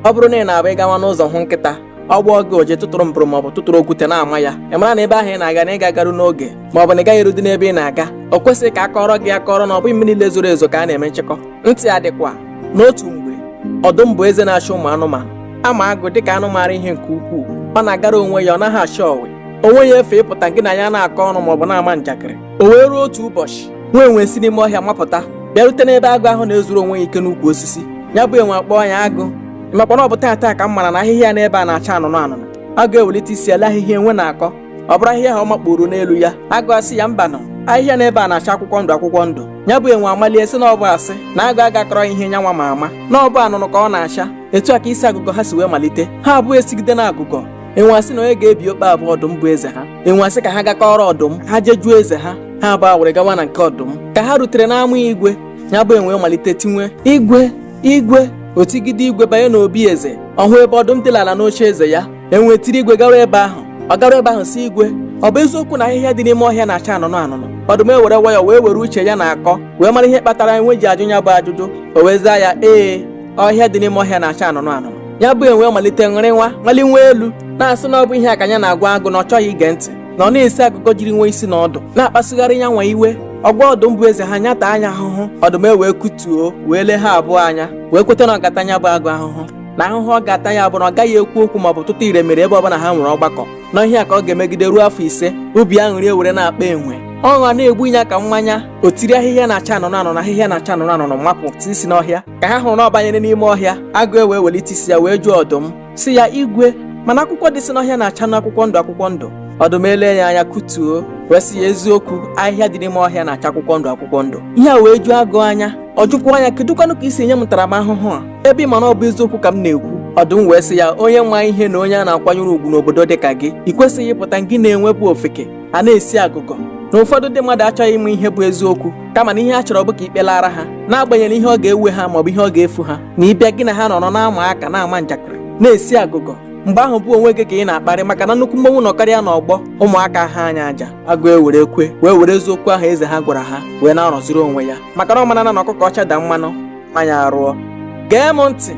ọ bụrụ na ị na-abụ ịgawa n'ụzọ hụ nkịta ọ gbọọ gị ụja ị tụtụrụ mbụrụ maọbụ tụtụrụ okwute na-ama ya ị mara na ebe ahụ ị na-aga na ị ga-agaru n'oge maọbụ na ị gaghị erudi n'ebe ị na-aga o kwesịghị ka a kọrọ gị akọrọ na ọ bụghị mmiri niile zoro ezo ka a na-eme nchekọ ntị ya dịkwa n'otu mgbe ọdụm bụ eze na-achị ụmụ anụmanụ a ma agụ dịka anụ maara ihe nke ukwuu ọ na-agara onwe ya ọ naghị achọ ọwe o nweghị efe ịpụta gị na ya na-akọ ọnụ maọbụ na-ama njakịrị o wee ruo otu ụbọchị nwa enwe si n'ime ọhịa mapụta bịarute n'ebe agụ ahụ na-ezuru onwe ya ike n'ukwu osisi ya bụ enwe akpọọ ya agụ ị makwa na ọ bụ taata ka m mara na ahịhịa n'ebe a na-acha anụnụ anụnụ agụ ewelite isi ele ahịhịa enwe na-akọ ọ bụrụ ahịhịa ahụ ọ makpuru n'elu ya agụ asị ya mbanụ ahịhịa n'ebe a na-acha akwụkwọ ndụ akwụkwọ ndụ ya bụ enwe amalie sị na ọ bụ asị na agụ aga akọrọ ihe nyanwa ma ama na ọ bụ anụnụ ka ọ na-acha etu a ka isi agụgọ ha si wee malite ha abụọ esigide na agụgọ enwe asị na onye ga-ebi okwu a bụ ọdụm bụ eze ha enwe asị ka ha gakọrọ ọdụm ha je jụọ eze ha ha abụọ were gawa na nke ọdụm ka ha rutere n'ama igwe ya bụ enwe malite tinwe igwe igwe o tigide igwe banye n'obi eze ọ hụ ebe ọdụm dị ala n'oche eze ya enwe tiri igwe gawa ebe ahụ ọ gara ebe ahụ sị igwe ọ bụ eziokwu na ahịhịa dị n'ime ọhịa na-acha anụnụ anụnụ ọdụm ewere wayọ wee were uche ya na akọ wee mara ihe kpatara enwe ji ajụ ya bụ ajụjụ o wee zaa ya ee ọhịa dị n'ime ọhịa na-acha anụnụ anụnụ ya bụ enwe malite ṅụrịnwa malinwe elu na-asị na ọ bụ ihe a ka nya na-agwa agụ na ọ chọghị ige ntị na ọ na-esi agụgọ jirinwe isi na ọdụ na-akpasugharị ya nwa iwe ọ gwa ọdụm bụ eze ha nya taa nya ahụhụ ọdụm ewee kutuo wee lee ha abụọ anya wee kweta na ọ ga-ata nya bụ agụ ahụhụ na ahụhụ ọ ga-ata ya bụ na ọ gaghị ekwu okwu maọbụ tụta ire mere ebe ọbụla ha nwere ọgbakọ na ihe a ka ọ ga-emegide ruo afọ ise obi aṅụrị ewere na-akpa enwe ọṅụ a na-egbu ya ka mmanya o tiri ahịhịa na-acha anụnụ anụnụ ahịhịa na-acha anụnụ anụnụ mapụ isi n'ọhịa ka ha hụrụ na ọ banyere n'ime ọhịa agụ ewee welite isi ya wee jụọ ọdụm sị ya igwe mana akwụkwọ dịsị n'ọhịa na-achanụ akwụkwọ ndụ akwụkwọ ndụ ọdụm ele ya anya kutuo wee sị ya eziokwu ahịhịa dị n'ime ọhịa na-acha akwụkwọ ndụ akwụkwọ ndụ ihe a wee juo agụ anya ọ jụkwaa nya kedụkwanụ ka i si enye m ntaramahụhụ a ebe ị ma na ọ bụ eziokwu ka m na-ekwu ọdụm wee sị ya onye ma ihe na onye a na-akwanyere ugwu n'obodo dị ka gị ị kwesịghị ịpụta gị na enwe bụ ofeke a na-esi agụgọ na ụfọdụ ndị mmadụ achọghị ịma ihe bụ eziokwu kama na ihe ha chọrọ bụ ka ikpe laara ha n'agbanyeghị ihe ọ ga-ewe ha maọbụ ihe ọ ga-efu ha na ịbịa gị na ha nọrọ na-ama aka na-ama njakịrị na-esi agụgọ mgbe ahụ bụ onwe gị ka ị na-akparị maka na nnukwu mmọnwụ nọkarịa n'ọgbọ ụmụaka ahaa nya aja agụ ewere kwe wee were eziokwu ahụ eze ha gwara ha wee na-anọziri onwe ya maka na ọ mara na ọkụkọ ọcha daa mmanụ anya arụọ gee m ntị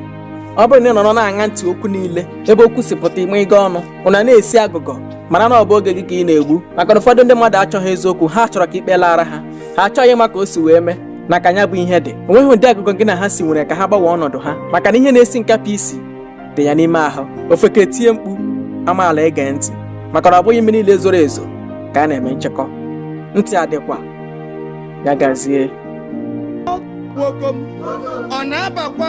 ọ bụrụ na ị nọrọ na-aṅa ntị okwu niile ebe okwu si pụta ime ịga ọnụ ụna na-esi agụgọ mara na ọ bụ oge gị ka ị na-egbu maka na ụfọdụ ndị mmadụ achọghị eziokwu ha chọrọ ka ikpe laara ha ha achọghị ịma ka o si wee mee na ka nya bụ ihe dị onweghị ụdị agụgọ gị na ha si nwere ka ha gbanwee ọnọdụ ha maka na ihe na-esi nkapị isi dị ya n'ime ahụ ofeke tie mkpu amaala ege ntị maka na ọ bụghị mmiri niile zoro ezo ka a na-eme nchekọ ntị adịkwa ya gazie nwokom ọ na-abakwa